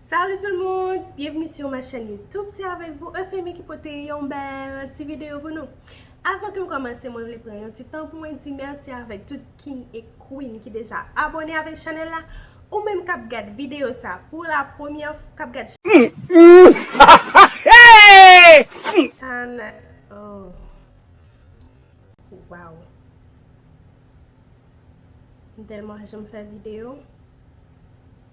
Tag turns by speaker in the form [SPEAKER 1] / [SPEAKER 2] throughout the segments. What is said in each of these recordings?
[SPEAKER 1] Salut tout le monde! Bienvenue sur ma chaîne YouTube, c'est avec vous Euphemie ki pote yon bèl ti video pou nou. Avan ke m komanse mwen vle pran yon ti tan pou mwen di merci avèk tout king e queen ki deja abone avèk chanèl la. Ou menm kap gad video sa pou la premyè kap gad chanèl Waww M tèlman janm fè video.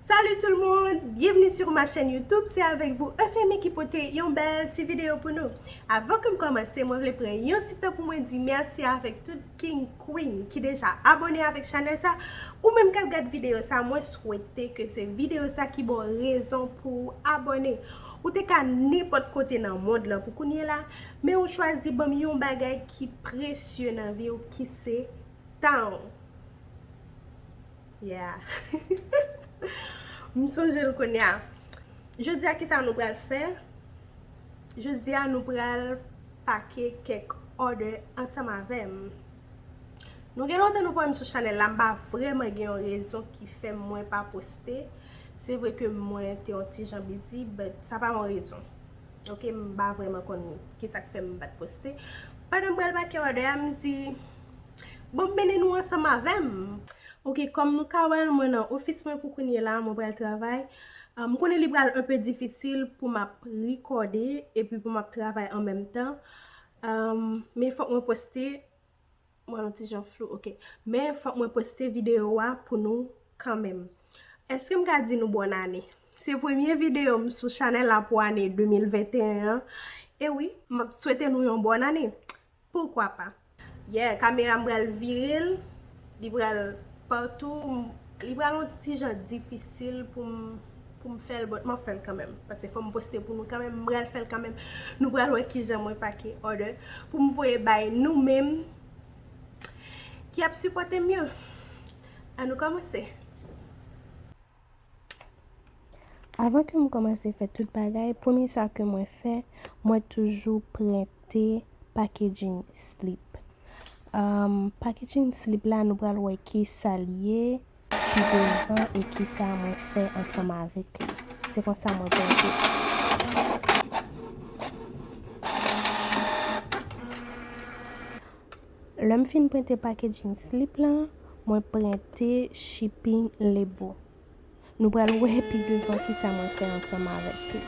[SPEAKER 1] Salut tout le monde! Bienvenue sur ma chaîne YouTube, c'est avec vous Euphemie ki pote yon bèl ti video pou nou. Avan ke m kòmanse, mwen vle pran yon ti tan pou mwen di mèsi avèk tout king, queen ki deja abone avèk chanèl sa. Ou menm kap gad video sa, mwen swete ke se video sa ki ba w rezon pou w abone. Ou te ka nenpòt kote nan mond lan pou kounye la, men ou chwazi ban m yon bagay ki presye nan vi w ki se tan w. Yeah M sonje l kounya Jodi a kisa nou pral fè Jodi a nou pral pake kèk order ansanm avè m Nou gen lontan nou pa wè m sou chanèl la M pa vrèman gen yon rezon ki fè mwen pa poste Se vre ke mwen te yon ti jan bizi but sa pa yon rezon Ok m pa vrèman konn kisa k fè m pa t poste Pandan m pral pake order a m di Bon beni nou ansanm avèm. Ok kòm nou ka wèl mwen nan ofis mwen pou kounye la mwen pral travay m konnen li pral un peu difisil pou map rikòde epi pou map travay an menm tan men fòk mwen poste m wèl yon ti jan flou ok men fòk mwen poste video a pou nou kan menm eske m ka di nou bòn ane se premye video m sou chanèl la pou ane 2021 an e wi map swete nou yon bòn ane Pourquoi pas. Yeah kamera m pral vire l li pral partou li pral yon ti jan difisil poum poum fèl but map fèl kanmèm paske fòm poste pou nou kanmèm m pral fèl kanmèm nou pral wè kijan mwen pake order poum voye bay nou menm ki ap sipòtem yo an nou kòmanse.
[SPEAKER 2] Avan ke m kòmanse fè tout bagay, premye sa ke mwen fè, mwen toujou prente packaging slip. Packaging slip la nou pral wè ki sa l ye pi devan e ki sa mwen fè ansanm avèk li. Se konsa mwen prente. Lè m fin prente packaging slip lan, mwen prente shipping label. Nou pral wè pi devan kisa mwen fè ansanm avèk li.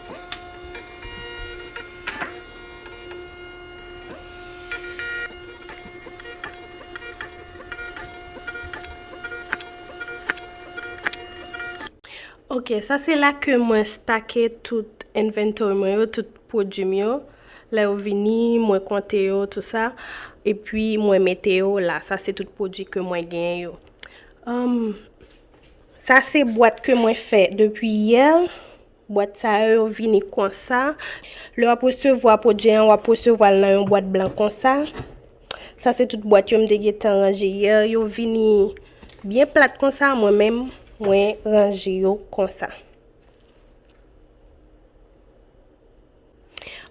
[SPEAKER 1] Ok, sa se la ke mwen stake tout inventory mwen yo, tout pwodwi m yo. Lè yo vini, mwen konte yo tou sa, epi mwen mete yo la. Sa se tout pwodwi ke mwen gen yo. Sa se bwat ke mwen fè depi yè. Bwat sa yo yo vini konsa. Lè wap resevwa pwodwi an, wap resevwa l nan yon bwat blan konsa. Sa se tout bwat yo m te gen tan ranje yè. Yo vini byen plat konsa, mwen men mwen ranje yo konsa.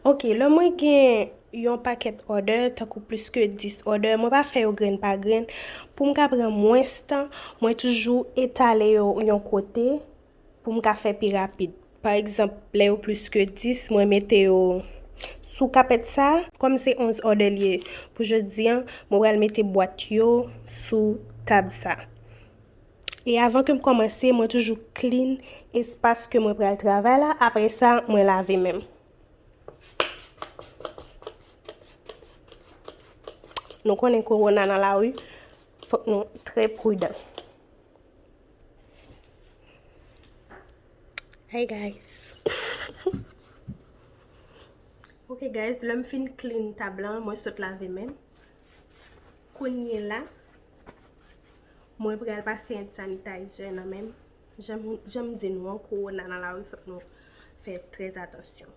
[SPEAKER 1] Ok, lè mwen gen yon pakèt òdè, tankou plis ke 10 òdè, mwen pa fè yo grenn pa grenn. Pou m ka pran mwens tan, mwen toujou etale yo yon kote pou m ka fè pi rapid. Pa egzanp, lè yo plis ke 10, mwen mete yo sou kapèt sa. Kòm se 11 òdè li ye pou jodi an, mwen pral mete bwat yo sou tab sa. E avan ke m kòmanse, mwen toujou clean espas ke mwen pral travay la, apre sa mwen lave menm. Nou konnen korona nan la ri, fòk nou trè prudan. Hi guys! Ok guys, lè m fin clean tab la, mwen sot lave menm. Kounye la, mwen pral pase hand sanitizer nan menm. Janm di nou an, korona nan lari fòk nou fè trè atansyon.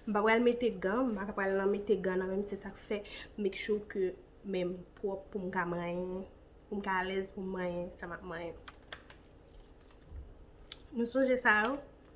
[SPEAKER 1] M pa pral mete gan, m pa pral nan mete gan nan menm se sak fè make sure ke men m pwòp pou m ka manyen, pou m ka alèz pou m manyen sa m ap manyen. Nou sonje sa yo?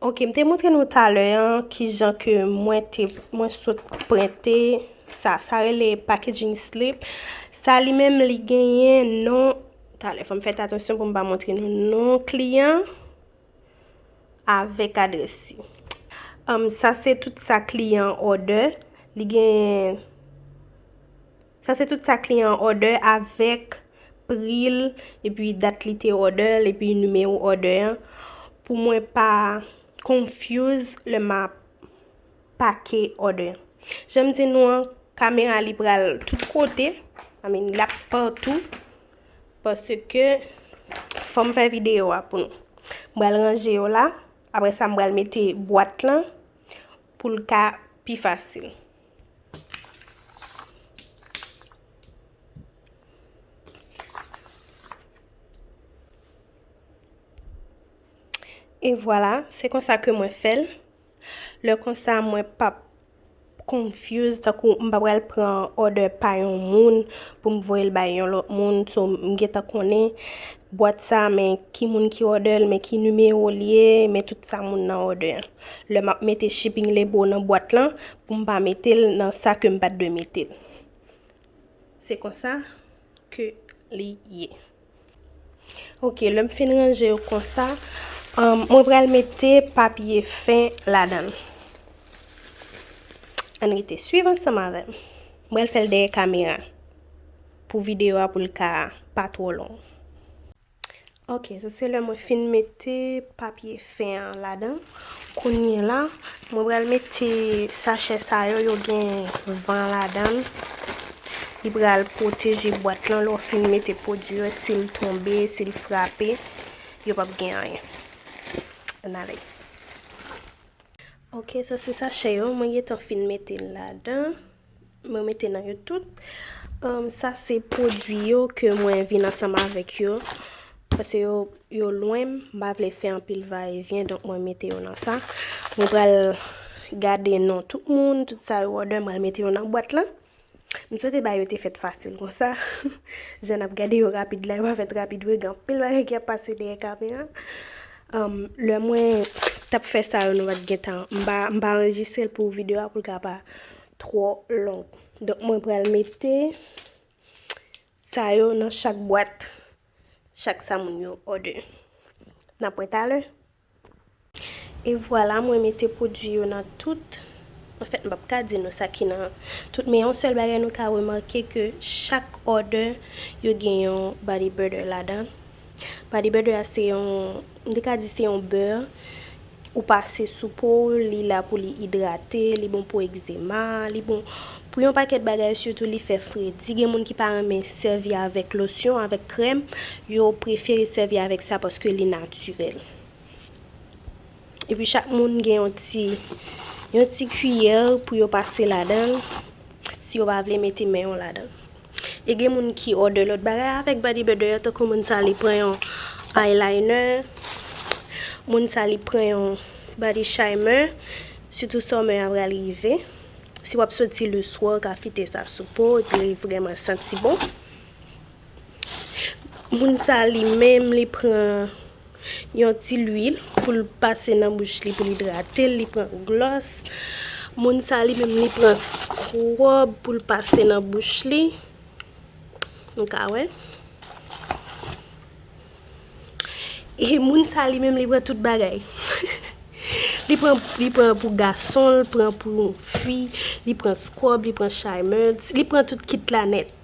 [SPEAKER 1] Ok, m te montre nou talè an ki jan ke mwen te, mwen sot prente sa. Sa rele packaging slip. Sa li menm li genyen non, talè fòm fèt atansyon pou m pa montre nou non kliyan avèk adresi. Sa se tout sa kliyan order, li genyen. Sa se tout sa kliyan an òdè avèk pri l epi dat li te òdè l epi nimewo òdè an pou mwen pa confuse lè m ap pake òdè. Jan m di nou an, kamera li pral tout kote, I mean l ap patou paske fò m fè videyo a pou nou. M pral ranje yo la, apre sa m pral mete bwat lan pou l ka pi fasil. E vwala, se konsa ke mwen fèl. Le konsa mwen pap confuse, takou m pa pral pran order pa yon moun pou m voyel bay yon lot moun. So m gentan konnen bwat sa men ki moun ki order l, men ki nimewo li ye, men tout sa moun nan order. Lè map mete shipping label nan bwat lan pou m pa mete l nan sa ke m pat dwe mete l. Se konsa ke li ye. Ok, lè m fin ranje yo konsa, mwen pral mete papye fen ladan. Ann rete swiv ansanm avè m. M pral fè l dèyè kamera pou videyo a pou l ka pa twò long. Ok, sa se lè mwen fin mete papye fen an ladan. Kounye la, mwen pral mete sachè sa yo, yo gen van ladan. Li pral pwoteje bwat lan lò fin mete pwodwi yo, si l tonbe, si l frape, yo pap gen anyen. An ale. Ok, sa se sachè yo, mwen gen tan fin mete ladan. Mwen mete nan yo tout. Sa se pwodwi yo ke mwen vin ansanm avèk yo. Pase yo lwen, m pa vle fè anpil va e vyen, donk mwen mete yo nan sa. Mwen pral gade non tout moun, tout sa yo òdè, mwen mete yo nan bwat lan. M swete ba yo te fèt fasil kon sa. Jan ap gade yo rapid la, yo pa fèt rapid vre, gen anpil bagay ki ap pase dèyè kamera. Lè mwen tap fè sa yo nou pat gen tan, m pa anrejistre l pou videyo a pou l ka pa. twò long. Donk mwen pral mete sa yo nan chak bwat. Chak sa moun yo òdè. N ap wè talè. E vwala mwen mete pwodui yo nan tout. An fèt m p ap ka di nou sa ki nan tout. Men yon sèl bagay nou ka remake ke chak òdè yo gen yon body butter ladan. Body butter a se yon, m te ka di se yon bè. Ou pase sou po w, li la pou li idrate, li bon pou egzema, li bon pou yon pakèt bagay sitou li fè fredi, gen moun ki pa renmen sèvi avèk losyon, avèk krèm, yo prefere sèvi avèk sa paske li natirèl. Epi chak moun gen yon ti yon ti kiyè pou yo pase ladan l, si yo pa vle mete men yo ladan l. E gen moun ki òdè lòt bagay avèk Body Butter yo tankou moun sa li pran yon eyeliner, moun sa li pran yon body shimer, sitou summer a pral rive. Si wap soti le swa, ou ka fite sa sou po, epi li vreman santi bon. Moun sa li menm li pran Yon ti lwil pou l pase nan bouch li pou l idrate l, li pran glòs. Moun sa li menm li pran scrub pou l pase nan bouch li. Nou ka wè. E moun sa li menm li pran tout bagay. Li pran li pran pou gason l, pran pou fi, li pran scrub, li pran charmeuse, li pran tout kit la nèt.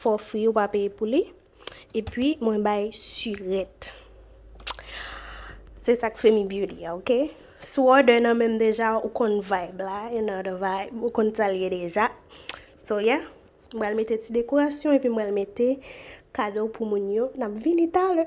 [SPEAKER 1] Fò fri ou pa peye pou li. E pi mwen bay surette. Se sak Femi Beauty a ok. Si w order nan menm deja ou konn vibe la. You know the vibe. Ou konn sa l ye deja. So yeah. M pral mete ti dekorasyon epi m pral mete kado pou moun yo. N ap vini talè.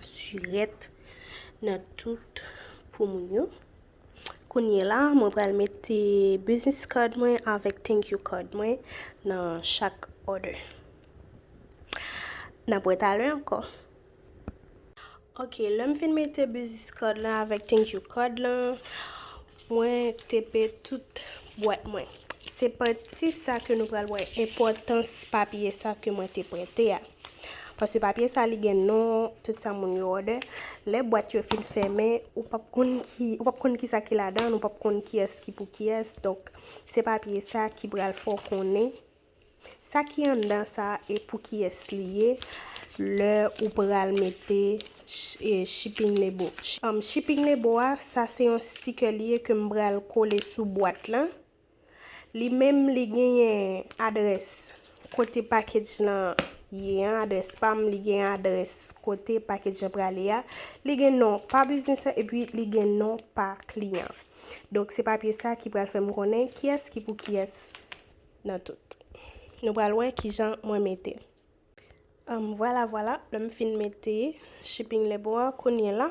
[SPEAKER 1] Surette nan tout pou moun yo. Kounye la, mwen pral mete business card mwen avèk thank you card mwen nan chak order. N ap wè talè ankò. Ok, lè m fin mete business card lan avèk thank you card lan, Mwen tepe tout bwat mwen. Se pati sa ke nou pral wè enpòtans papye sa ke mwen te prente a. Paske papye sa li gen non tout sa moun yo òdè. Lè bwat yo fin fèmen, ou pap konn ki, ou pap konn ki sa ki ladan, ou pap konn kiyès ki pou kiyès. Donk, se papye sa ki pral fè w konnen Sa ki anndan sa e pou kiyès li ye lè ou pral mete shipping lebo. Shipping lebo a sa se yon sticker li ye ke m pral kole sou bwat lan. Li menm li genyen adrès kote package lan ye an, adrès pa m, li gen adrès kote package lan prale a. Li gen non pa biznis lan epi li gen non pa kliyan. Donk se papye sa ki pral fè m konnen kiyès ki pou kiyès. nan tout. Nou pral wè kijan mwen mete. Anm vwala vwala lè m fin mete shipping label an kounye la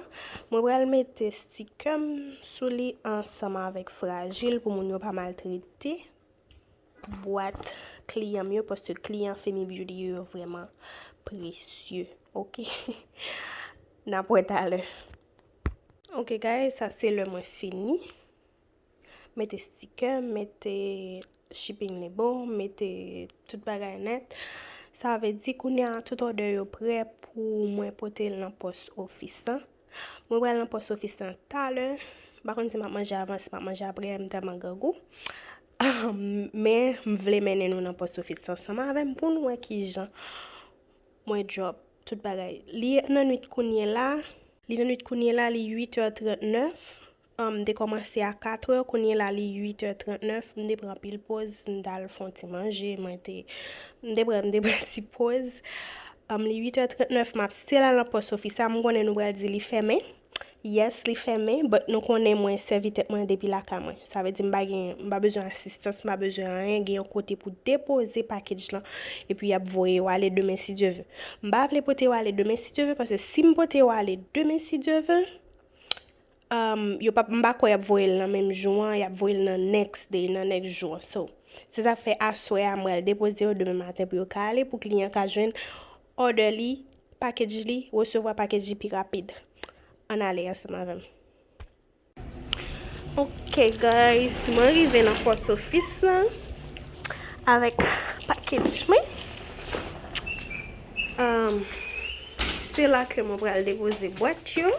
[SPEAKER 1] mwen pral mete stikè m sou li ansanm avèk frajil pou moun yo pa maltrete bwat kliyan m yo paske kliyan Femi Beauty yo yo vrèman presye ok n ap wè talè. Ok guys sa se lè mwen fini. mete stikè, mete shipping li bon, mete tout bagay nèt. Sa vle di kounye a tout òdè yo prè pou mwen pote l nan pòs ofis lan. Mwen pral nan pòs ofis lan talè. Pa konn si m ap manje avan, si m ap manje apre, m tèlman grangou. Men, m vle mennen nou nan pòs ofis lan ansanm avè m pou nou wè ki jan mwen drop tout bagay. Li nan nwit kounye la, li nan nwit kounye la, li 8 è 39. M te kòmanse a 4 è, kounye la li 8 è 39, m te pran pil poz, m t al fon ti manje, mwen te, m te pran, m te pran ti poz. Li 8 è 39, m ap still al nan pòs ofis la, m konnen nou pral di li fèmen. Yes, li fèmen, but nou konnen mwen sèvi tèt mwen depi lakay mwen. Sa vle di m pa gen, m pa bezwen asistans, m pa bezwen anyen, gen yon kote pou depoze package lan, epi y ap voye yo ale demen si Dye ve. M pa vle pote yo ale demen si Dye ve, paske si m pote yo ale demen si Dye ve, Umm yo pap m pa kwè yap voye l nan menm jou an yap voye l nan next day nan next jou an so se sa fè aswè a m pral depoze yo demen maten pou yo ka ale pou kliyan ka jwenn order li package li resevwa package li pi rapid ann ale ansanm avè m. Ok guys mwen rive nan post office lan avèk package mwen umm se la ke mwen pral depoze bwat yo.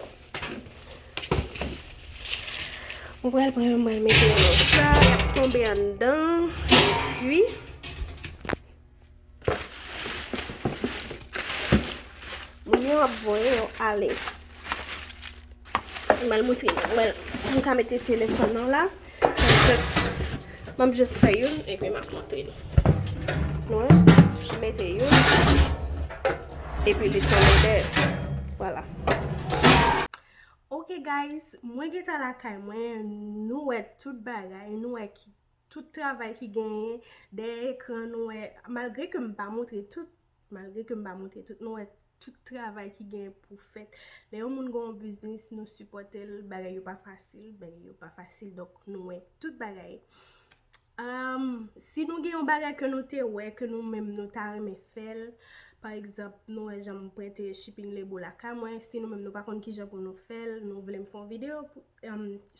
[SPEAKER 1] Mwen pral pran yon mwèl mete yo nan sa. Y ap tonbe anndan. Ui. Mwen yo ap voye yo ale. Mwen al moutre yon mwèl. Mwen ka mete telefon nan la. M ap just fè youn epi m ap montre nou. Nou wè? M mete youn epi li tonbe dèyè. Vwala. Ok guys, mwen gen tan lakay mwen. Nou wè tout bagay. Nou wè tout travay ki genyen dèyè ekran. Nou wè, malgre ke m pa montre tout. Malgre ke m pa montre tout, nou wè tout travay ki gen pou fèt. Lè yon moun gen yon biznis, nou sipòte l, bagay yo pa fasil, bagay yo pa fasil, donk nou wè tout bagay. Si nou gen yon bagay ke nou te wè, ke nou menm nou ta renmen fè l, pa egzanp, nou wè jan m prete shipping label lakay mwen, si nou menm nou pa konn kijan pou nou fè l, nou vle m fè yon videyo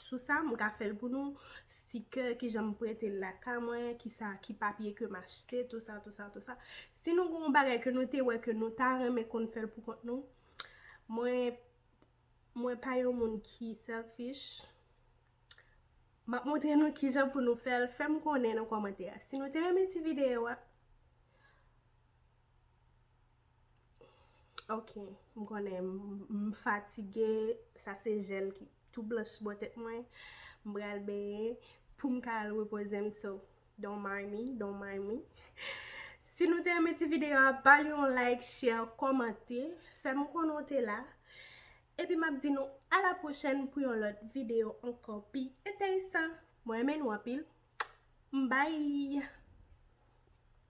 [SPEAKER 1] Sou sa m ka fèl pou nou, stikè kijan m prentel lakay mwen, kisa ki papye kem achte, tout sa tout sa tout sa. Si nou gen yon bagay ke nou te wè ke nou ta renmen konn fèl pou kont nou, mwen mwen pa yon moun ki selfish. Map montre nou kijan pou nou fèl, fèm konnen nan kòmantè a si nou te renmen ti videyo a. Ok m konnen m fatige sa se jel ki tou blanch bò tèt mwen m pral benyen poum ka al repoze m so don't mind me don't mind me si nou te renmen ti video a bal yon like share kòmante fèm konnen w te la epi map di nou a la pwochèn pou yon lòt video ankò pi enteresan mwen renmen nou anpil bye.